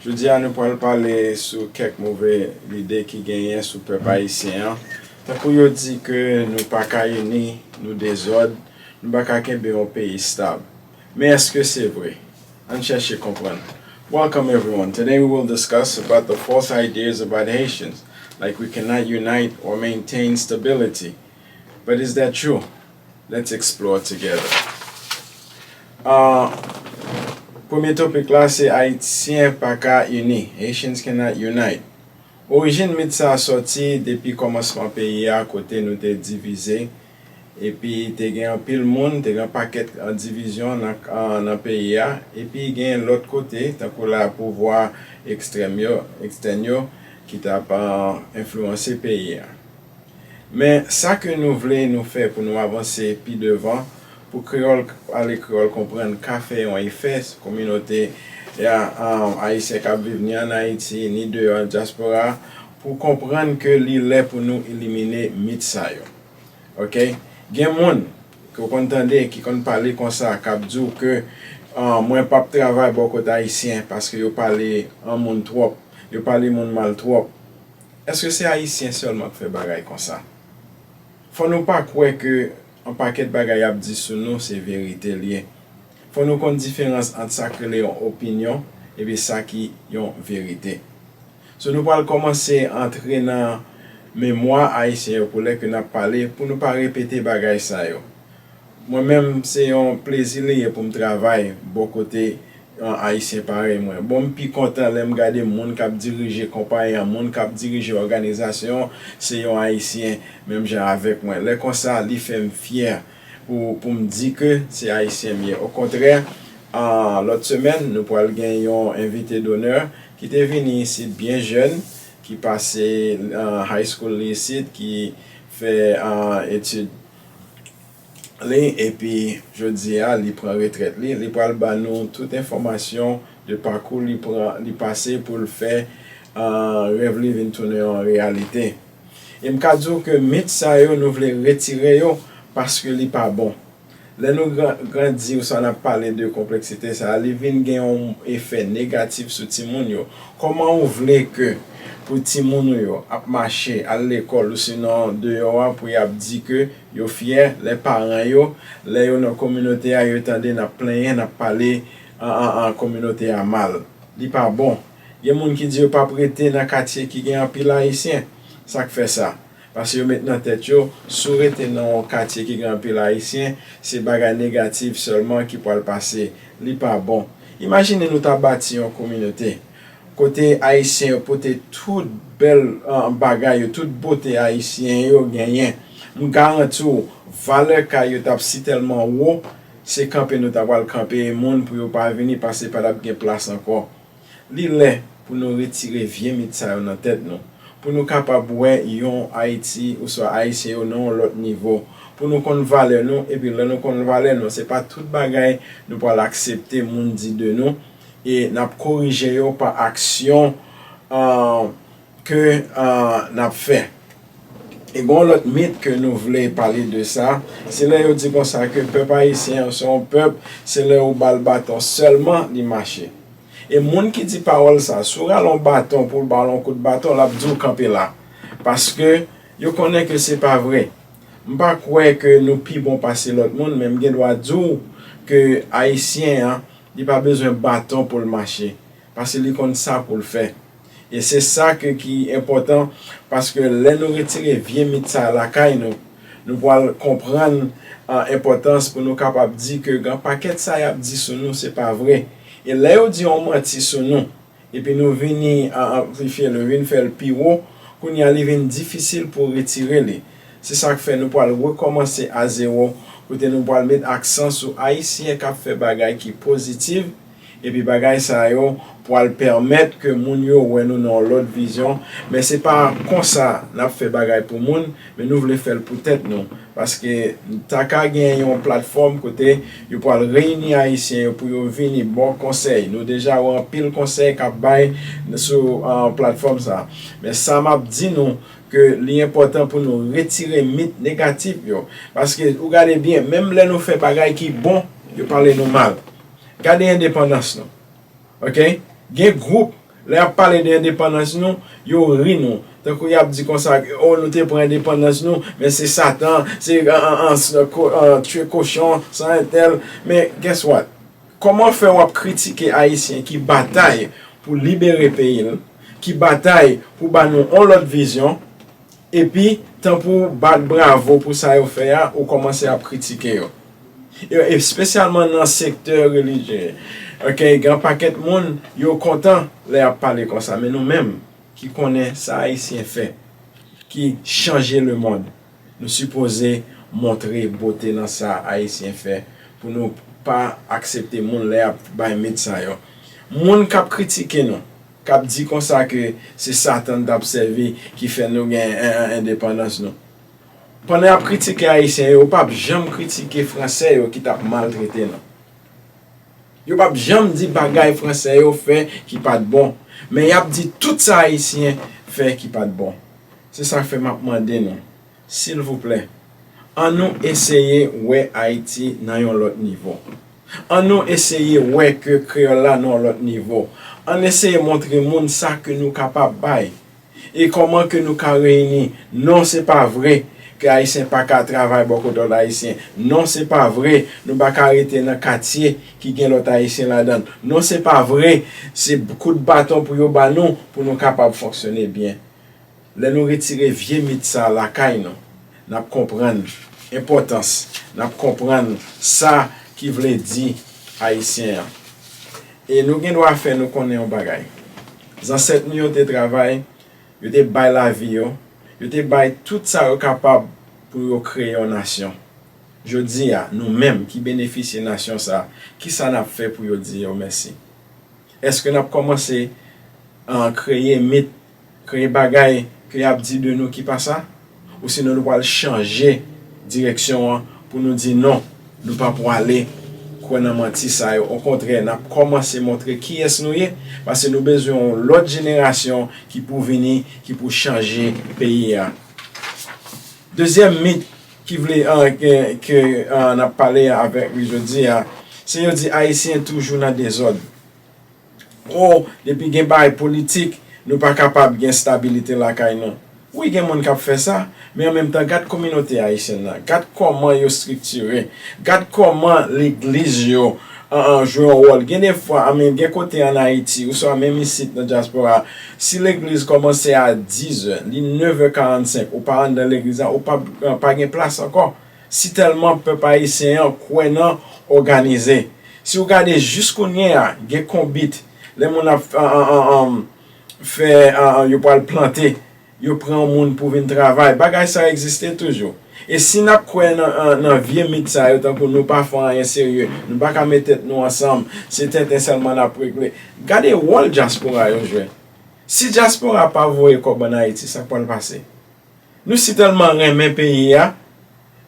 Jodi a nou pral pale sou kèk move lide ki genyen sou pèp ayisyen an, tankou yo di ke nou pa ka ini, nou dezòd, nou pa ka kenbe yon peyi stab. Men eske se vre? Ann chèche konprann. Welcome everyone, today we will discuss about the false ideas about Haitians, like we cannot unite or maintain stability, but is that true? Let's explore together Premye topik la se Ayisyen pa ka ini, Haitians cannot unite. Orijin mit sa a sòti depi kòmansman peyi a kote nou te divize epi te gen anpil moun, te gen yon pakèt divizyon nan peyi a epi gen lòt kote tankou la pouvwa ekstrèm yo, extèn yo, ki t ap enfliwanse peyi a. Men, sa ke nou vle nou fè pou nou avanse pi devan, pou kreyòl k pale, kreyòl konprann ka fè yon efè sou kominote Ayisyen k ap viv ni ann Ayiti, ni deyò an dyaspora, pou konprann ke li lè pou nou elimine mit sa yo. Ok. Gen moun, ke w konn tande, ki konn pale konsa, k ap di w ke mwen p ap travay bò kot Ayisyen, paske yo pale moun twòp, yo pale moun mal twòp. Eske se ayisyen sèlman k fè bagay konsa? Fò nou pa kwè ke yon pakèt bagay y ap di sou nou se verite l ye. Fò nou konn diferans ant sa k rele yon opinyon epi sa ki yon verite. So nou pral kòmanse antre nan memwa ayisyen yo pou lè ke n ap pale pou nou pa repete bagay sa yo. Mwen menm se yon plezi li ye pou m travay bò kote yon Ayisyen parèy mwen. Bon m pi kontan lè m gade moun k ap dirije konpayi an, moun k ap dirije òganizasyon an se yon Ayisyen menm jan avèk mwen. Lè konsa li fè m fyè pou pou m di ke se Ayisyen m ye. Okontrè, lòt semèn nou pral gen yon envite donè ki te vini isit byen jèn, ki pase high school li isit, ki fè etid. li epi jodi a li pran retrèt li, li pral ba nou tout enfòmasyon de pakou li pran, li pase pou l fè rèv li vin tounen yon reyalite. E m ka di w ke mit sa yo nou vle retire yo paske li pa bon. Lè nou grandi oswa n ap pale de konpleksite sa a, li vin gen yon efè negatif sou timoun yo. Kòman ou vle ke pou timoun ou yo ap mache al lekòl ousinon deyò a pou yap di ke yo fyè lè paran yo, lè yo nan kominote a yo tande nap plenyen nap pale kominote a mal? Li pa bon. Gen moun ki di yo pap rete nan katye ki gen anpil ayisyen. Sak fè sa? Pase yo met nan tèt yo, si w rete nan yon katye ki gen anpil Ayisyen, se bagay negatif sèlman ki pral pase. Li pa bon. Imajine nou ta bati yon kominote, kote Ayisyen yo pote tout bèl bagay yo, tout bote Ayisyen yo genyen. M garanti w, valè kay yo t ap si tèlman wo, se kanpe nou ta pral kanpe moun pou yo pa vini, pase pa t ap gen plas ankò. Li lè pou nou retire vye mit sa yo nan tèt nou, pou nou kapab wè yon Ayiti oswa Ayisyen yo nan yon lòt nivo, pou nou konn valè nou, epi lè nou konn valè nou, se pa tout bagay nou pral aksepte moun di de nou, e n ap korije yo pa aksyon ke n ap fè. E gen yon lòt mit ke nou vle pale de sa, se lè yo di konsa ke pèp ayisyen an se yon pèp se lè ou ba l baton sèlman li mache. E moun ki di pawòl sa, si w rale yon baton pou l ba w yon kout baton l ap di w kanpe la. Paske yo konnen ke se pa vre. M pa kwè ke nou pi bon pase lòt moun men m gen dwa di w ke ayisyen an li pa bezwen baton pou l mache. Paske li konn sa poul fè. E se sa ke ki enpòtan paske lè nou retire vye mit sa lakay nou, nou pwal konprann an enpòtans pou nou kapab di ke gan pakèt sa yap di sou nou se pa vre. E lè yo di on manti sou nou, epi nou vini an anplifye l, nou vin fè l pi wo, kounye a li vin difisil pou retire li. Se sak fè nou pwal rekòmanse a zewo kote nou pwal met aksan sou Ayisyen kap fè bagay ki pozitiv, Epi bagay sa yo pwal pèmèt ke moun yo wè nou nan yon lòt vizyon, men se pa konsa nap fè bagay pou moun, men nou vle fèl pou tèt nou, paske ta ka gen yon platfòm kote yo pwal reyini ayisyen yo pou yo vini ba w konsèy, nou deja wè anpil konsèy kap bay sou platfòm sa, men sa map di nou ke li enpòtan pou nou retire mit negatif yo, paske ou gade byen menm lè nou fè bagay ki bon yo pale nou mal. Gade endepandans nou ok gen group lè yap pale de endepandans nou yo ri nou tankou yap di konsa oh nou te pran endepandans nou men se satan se tue kochon san entèl men guess what kòman fè wap kritike ayisyen ki batay pou libere peyi l ki batay pou ba nou yon lòt vizyon Epi, tan pou w bat bravo pou sa yo fè a, ou kòmanse ap kritike yo. Yo espesyalman nan sektè relijye. Ok, gen yon pakèt moun, yo kontan lè y ap pale konsa. Men nou menm ki konnen sa Ayisyen fè, ki chanje lemonn, nou sipoze montre bote nan sa Ayisyen fè pou nou pa aksepte moun lè y ap bay mit sa yo. Moun k ap kritike nou. K ap di konsa ke se Satan n t ap sèvi ki fè nou gen endepandans nou. Pandan y ap kritike Ayisyen yo, yo p ap janm kritike Franse yo ki t ap maltrete nou. Yo p ap janm di bagay Franse yo fè ki pa t bon. Men y ap di tout sa Ayisyen fè ki pa t bon. Se sa k fè m ap mande nou. Silvouplè, an nou eseye wè Ayiti nan yon lòt nivo. An nou eseye wè ke kreyòl la nan yon lòt nivo. Ann eseye montre moun sa ke nou kapab bay e kòman ke nou ka reyini. Non, se pa vre ke Ayisyen pa ka travay bò kote lòt Ayisyen. Non, se pa vre nou pa ka rete nan katye ki gen lòt Ayisyen ladan l. Non, se pa vre se kout baton pou yo ba nou pou nou kapab fonksyone byen. Lè nou retire vye mit sa lakay nou, n ap konprann enpòtans, n ap konprann sa ki vle di Ayisyen an. E nou gen dwa fè nou konnen yon bagay, zansèt nou yo te travay, yo te bay lavi yo, yo te bay tout sa yo kapab pou yo kreye yon nasyon. Jodi a, nou menm ki benefisye nasyon sa, ki sa n ap fè pou yo di yo mèsi? Èske n ap kòmanse kreye mit? Kreye bagay ke y ap di de nou ki pa sa, osinon nou pral chanje direksyon an pou nou di non, nou pa pwale kwè nan manti sa yo. Okontrè, n ap kòmanse montre kiyès nou ye, pase nou bezwen yon lòt jenerasyon ki pou vini, ki pou chanje peyi a. Dezyèm mit ki vle ke n ap pale avèk li jodi a, se yo di Ayisyen toujou nan dezòd. Oh depi gen bay politik nou pa kapab gen stabilite lakay nou. Wi gen moun kap fè sa, men an menm tan gad kominote ayisyèn nan, gad kòman yo striktire, gad kòman legliz yo jwe yon wòl. Gen de fwa an men gen kote an Ayiti ouswa menm isit nan dyaspora a, si legliz kòmanse a dizè, li nevè karannsenk ou pa anndan legliz la ou pa gen plas ankò. Si tèlman pèp ayisyen an kwè nan òganize. Si ou gade jis kounye a gen konbit lè moun ap fè yo pwal plante yo pran moun pou vin travay bagay sa egziste toujou. E si nap kwè nan vye mit sa yo tankou nou pa fè anyen serye nou pa ka met tèt nou ansanm se tenten sèlman nap regle. Gade wòl dyaspora yo jwe. Si dyaspora pa voye kòb an ayiti sak pwal pase. Nou si tèlman renmen peyi a,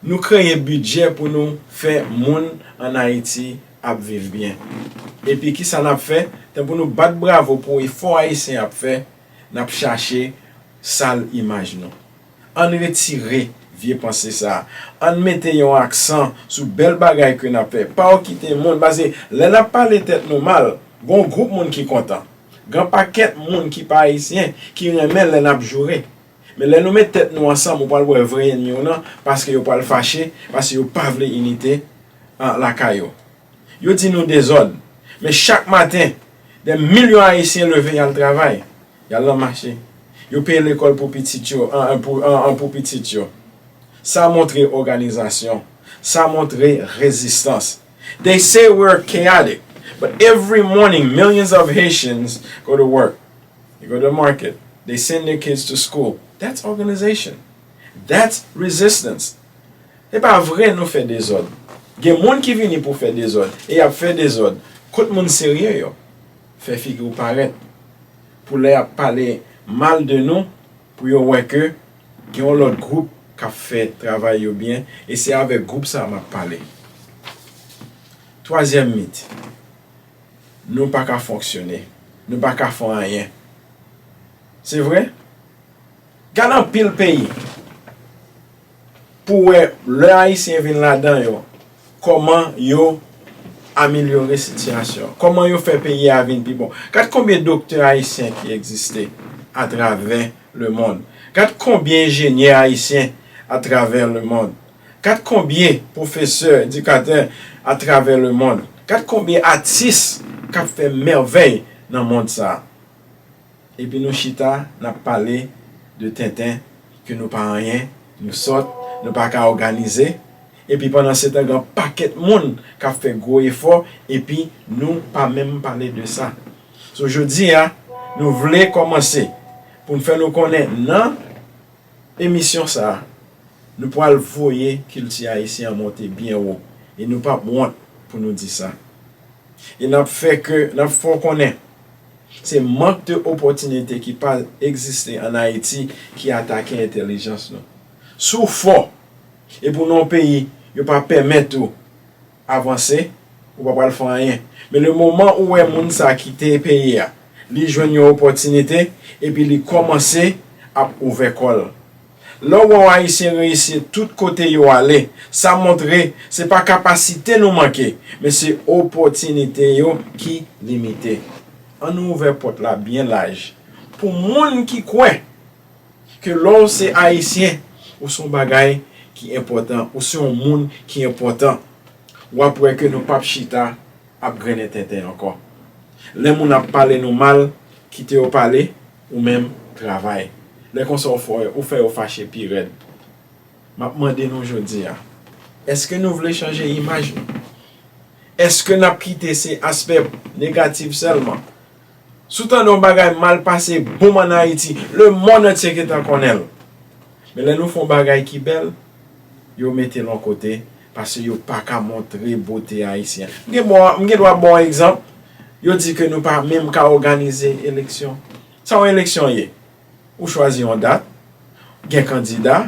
nou kreye bidjè pou nou fè moun an Ayiti ap viv byen. Epi ki sa n ap fè? Tanpou nou bat bravo pou efò Ayisyen ap fè, n ap chache sal imaj nou. An n retire vye panse sa a. An n mete yon aksan sou bèl bagay ke n ap fè. Pa okite moun, paske lè n ap pale tèt nou mal, gen yon gwoup moun ki kontan. Gen yon pakèt moun ki pa Ayisyen ki renmen lè n ap joure. Men lè nou met tèt nou ansanm ou pral wè vrè enmi w lan paske yo pral fache paske yo pa vle inite lakay yo. Yo di nou dezòd men chak maten dè milyon ayisyen leve yal travay, yal nan mache, yo peye lekòl pou pitit yo an pou pitit yo. Sa montre òganizasyon, sa montre rezistans. They say we're chaotic but every morning millions of Haitians go to work. You go to the market, they send their kids to school, that's organization, that's resistance. Se pa vre nou fè dezòd. Gen moun ki vini pou fè dezòd, e y ap fè dezòd. Kot moun serye yo? Fè figi w parèt. Pou lè y ap pale mal de nou, pou yo wè ke gen yon lòt gwoup k ap fè travay yo byen, e se avèk gwoup sa a m ap pale. Twazyèm mit. Nou pa ka fonksyone. Nou pa ka fon anyen. Se vre? Gad anpil peyi. Pou wè lè Ayisyen vin ladan yo, kòman yo amelyore sitiyasyon. Kòman yo fè peyi a vin pi bon. Gad konbyen doktè Ayisyen ki egziste atravè lemond. Gad konbyen enjenyè Ayisyen atravè lemond. Gad konbyen pwofesè, edikatè atravè lemonn. Gad konbyen atis k ap fè mèvèy nan mond sa a. Epi nou chita n ap pale de tenten, ke nou pa anyen, nou sòt, nou pa ka òganize. Epi pandansetan gen yon pakèt moun k ap fè gwo efò epi nou pa menm pale de sa. So jodi a, nou vle kòmanse pou n fè nou konnen nan. Emisyon sa, nou pwal voye kilti ayisyen an monte byen wo e nou pap wont pou nou di sa. E nap fè ke, nap fè w konnen, se mank de opòtinite ki pa egziste an Ayiti ki atake entelijans nou. Si w fò, e pou non peyi, yo pa pèmèt ou. avanse ou pa pral fè anyen men le moman ou wè moun sa kite peyi a li jwenn yon opòtinite epi li kòmanse ap ouvè kòl lè ou wè yon ayisyen reyisi tout kote yo ale sa montre se pa kapasite nou manke men se opòtinite yo ki limite annou ouvè pòt la byen laj pou moun ki kwè. ke lè w se Ayisyen, ou se yon bagay ki enpòtan, ou se yon moun ki enpòtan, w ap wè ke nou p ap chita ap grennen tenten ankò. Lè moun ap pale nou mal, kite yo pale, ou menm, travay. Lè konsa ou fè yo fache pi rèd. M ap mande nou jodi a, èske nou vle chanje imaj nou? Èske n ap kite se aspè negatif sèlman? Si w tande yon bagay mal pase boom an Ayiti, lemonn antye gentan konnen l. Men lè nou fè yon bagay ki bèl, yo mete l yon kote pase yo pa ka montre bote Ayisyen. M gen dwa ba w yon egzanp, yo di ke nou pa menm ka òganize eleksyon. Sa yon eleksyon ye? Ou chwazi yon dat, gen kandida,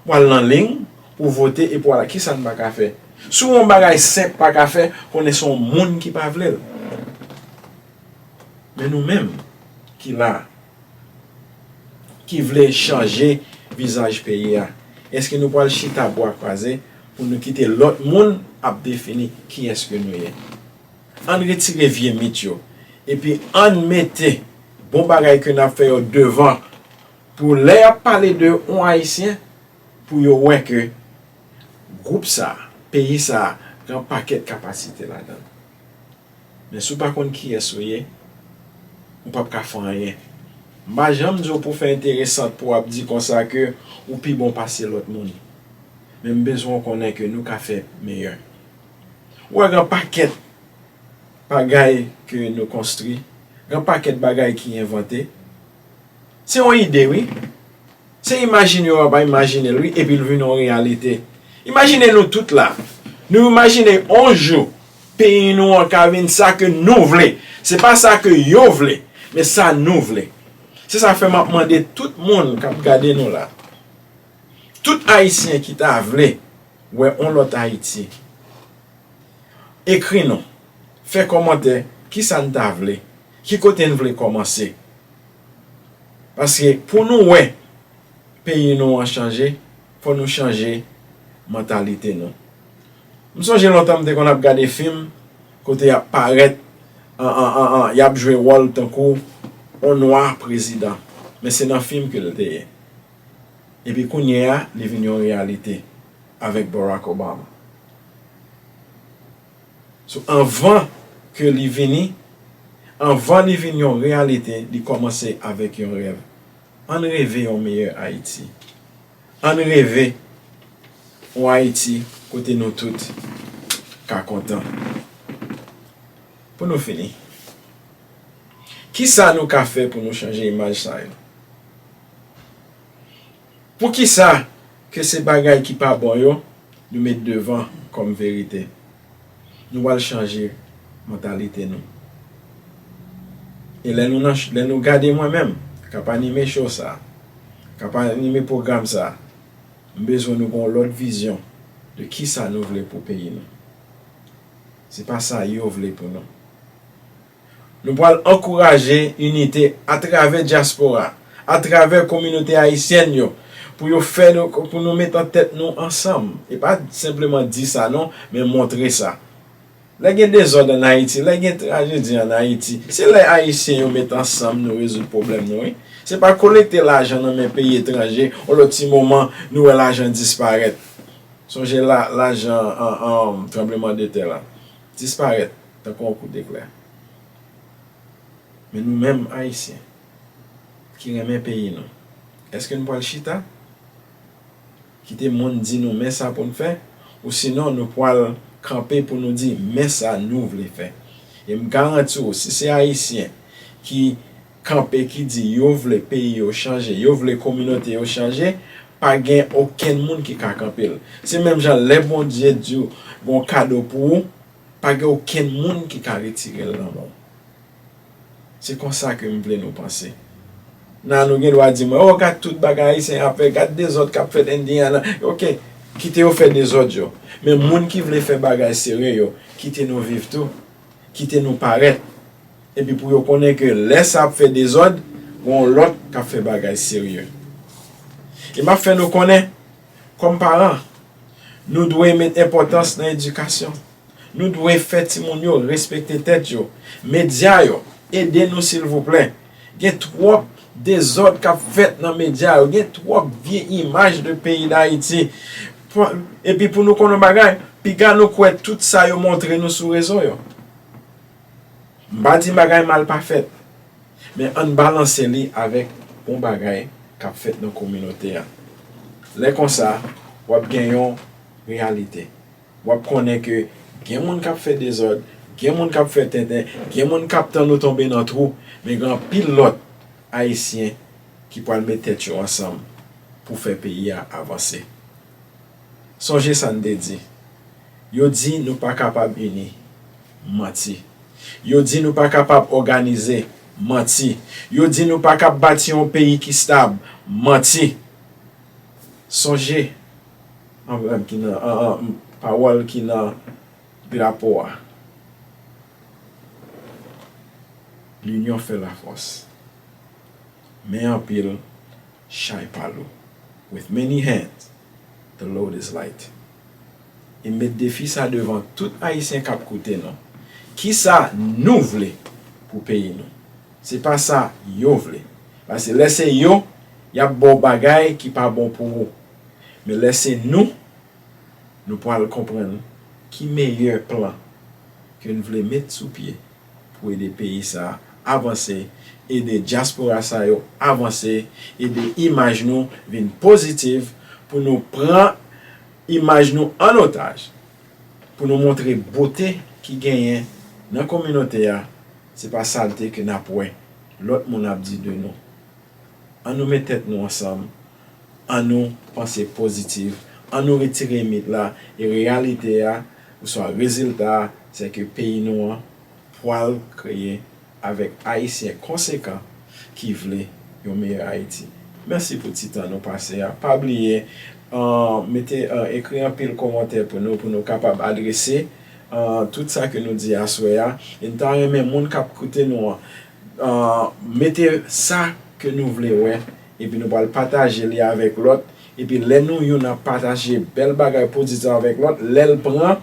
w al nan ling pou w vote epi w al kisa n pa ka fè. Si w wè yon bagay senp pa ka fè, konnen se yon moun ki pa vle l. Men nou menm ki la a, ki vle chanje vizaj peyi a, èske nou pral chita bwa kwaze pou nou kite lòt moun ap defini kiyès ke nou ye? Ann retire vye mit yo epi ann mete bon bagay ke nap fè yo devan pou lè yap pale de on Ayisyen pou yo wè ke gwoup sa, peyi sa gen on pakèt kapasite ladan l. Men si w pa konn kiyès ou ye, ou pap ka fè anyen. M pa janm di w pou w fè enteresant pou w ap di konsa ke ou pi bon pase lòt moun. Men m bezwen w konnen ke nou ka fè meyè. Ou wè gen pakèt bagay ke nou konstri, gen pakèt bagay ki envante. Se yon ide wi. Se imajine yo ap imajine l wi epi l vin yon reyalite. Imajine nou tout la, nou imajine yon jou peyi nou an ka vin sa ke nou vle. Se pa sa ke yo vle, men sa nou vle. Se sa fè m ap mande tout moun k ap gade nou la. Tout ayisyen ki ta vle wè on lòt Ayiti, ekri nou, fè kòmantè kisa n ta vle, ki kote n vle kòmanse. Paske pou nou wè peyi nou an chanje, fò nou chanje mantalite nou. M sonje lontan m te konn ap gade fim kote y ap parèt, y ap jwe wòl tankou on nwa prezidan. Men se nan fim ke l te ye. epi kounye a li vin yon reyalite avèk Barack Obama. So anvan ke li vini, anvan li vin yon reyalite li kòmanse avèk yon rèv. Ann reve yon meyè Ayiti. Ann reve yon Ayiti kote nou tout ka kontan. Pou nou fini, kisa nou ka fè pou nou chanje imaj sa yo? Poukisa ke se bagay ki pa bon yo nou met devan kòm verite? Nou pral chanje mantalite nou. E lè nou nan, lè nou gade mwen menm kap anime show sa, kap anime pwogram sa, m bezwen nou gen yon lòt vizyon de kisa nou vle pou peyi nou. Se pa sa yo vle pou nou. Nou pral ankouraje inite atravè dyaspora, atravè kominote ayisyèn yo pou yo fè nou, pou nou met an tèt nou ansanm. E pa senpleman di sa non, men montre sa. Lè gen dezòd an Ayiti, lè gen trajedi an Ayiti, se lè ayisyen yo met ansanm nou rezoud pwoblèm nou wi. Se pa kolekte lajan nan men peyi etranje, yon lòt ti moman nou wè lajan disparèt. Sonje lajan tranbleman de tè la, disparèt. Tankou yon kout deklè. Men nou menm Ayisyen ki renmen peyi nou, èske n pral chita kite moun di nou men sa pou n fè? Osinon nou pral kanpe pou nou di men sa nou vle fè? E m garanti w si se Ayisyen ki kanpe ki di yo vle peyi yo chanje, yo vle kominote yo chanje, pa gen okenn moun ki ka kanpe l. Se menm jan lè Bondye di w gen yon kado pou ou, Pa gen okenn moun ki ka retire l nan men w. Se konsa ke m vle nou panse. Nan nou gen dwa di mwen, oh gad tout bagay Ayisyen ap fè, gad dezòd k ap fèt Indiana. Ok, kite yo fè dezòd yo. Men moun ki vle fè bagay sere yo, kite nou viv tou. Kite nou parèt. Epi pou yo konnen ke lè sa ap fè dezòd, gen yon lòt k ap fè bagay serye. E m ap fè nou konnen. Kòm paran, nou dwe met enpòtans nan edikasyon. Nou dwe fè timoun yo respekte tèt yo. Medya yo, ede nou silvouplè. Gen twòp dezòd k ap fèt nan medya yo. Gen twòp vye imaj de peyi Dayiti. Epi pou nou konn yon bagay, piga nou kwè tout sa yo montre nou sou rezo yo. M pa di bagay mal pa fèt. Men ann balanse li avèk bon bagay k ap fèt nan kominote a. Lè konsa, w ap gen yon reyalite. W ap konnen ke gen moun k ap fè dezòd, gen moun k ap fè tenten, gen moun k ap tann ou tonbe nan twou, men gen anpil lòt Ayisyen ki pral met tèt yo ansanm pou fè peyi a avanse. Sonje sa n te di, yo di nou pa kapab ini. Manti. Yo di nou pa kapab òganize. Manti. Yo di nou pa kab bati yon peyi ki stab. Manti. Sonje anbrèm ki nan pawòl ki nan drapo a. Linyon fè lafòs. Men anpil, chay pa lou. With many hands, the load is light. E met defi sa devan tout Ayisyen k ap koute nou. Kisa nou vle pou peyi nou? Se pa sa yo vle. Pase lè se yo, y ap ba w bagay ki pa bon pou ou. Men lè se nou, nou pral konprann ki meyè plan ke n vle met sou pye. Pou ede peyi sa avanse, ede dyaspora sa yo avanse, ede imaj nou vin pozitiv, pou nou pran imaj nou an otaj, pou nou montre bote ki genyen nan kominote a, se pa salte ke nap wè lòt moun ap di de nou. An nou met tèt nou ansanm Annou panse pozitif, annou retire mit la e reyalite a oswa rezilta a se ke peyi nou an pwal kreye avèk Ayisyen konsekan ki vle yon meyè Ayiti. Mèsi pou ti tan nou pase a. Pa bliye mete ekri anpil komantè pou nou pou nou kapab adrese tout sa ke nou di aswè a e n ta renmen moun k ap koute nou an mete sa ke nou vle wè Epi nou pral pataje li avèk lòt, epi lè nou youn ap pataje bèl bagay pozitif sa avèk lòt, lè l pran,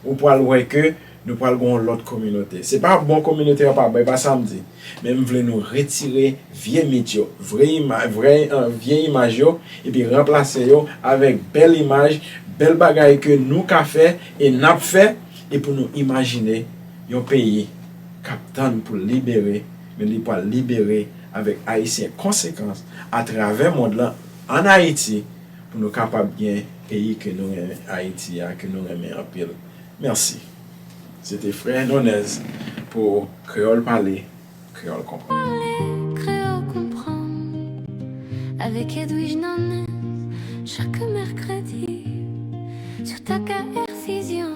ou pral wè ke nou pral gen yon lòt kominote. Se pa bon kominote an pa bon, e pa sa m di. Men m vle nou retire vye mit yo, vre imaj, vrè, vye imaj yo, epi ranplase yo avèk bèl imaj, bèl bagay ke nou ka fè e n ap fè, e pou nou imajine yon peyi k ap tann pou l libere, Men li pwal libere avèk Ayisyen konsekans a travè mond lan an Ayiti pou nou kapab gen peyi ke nou renmen Ayiti a ke nou renmen anpil. Mèsi. Se te frè Nonèz pou Kreyòl Pale, Kreyòl Konprann. Pale, Kreyòl Konprann avèk Edwige Nonèz chak mèkredi sou TAKAR Fizyon.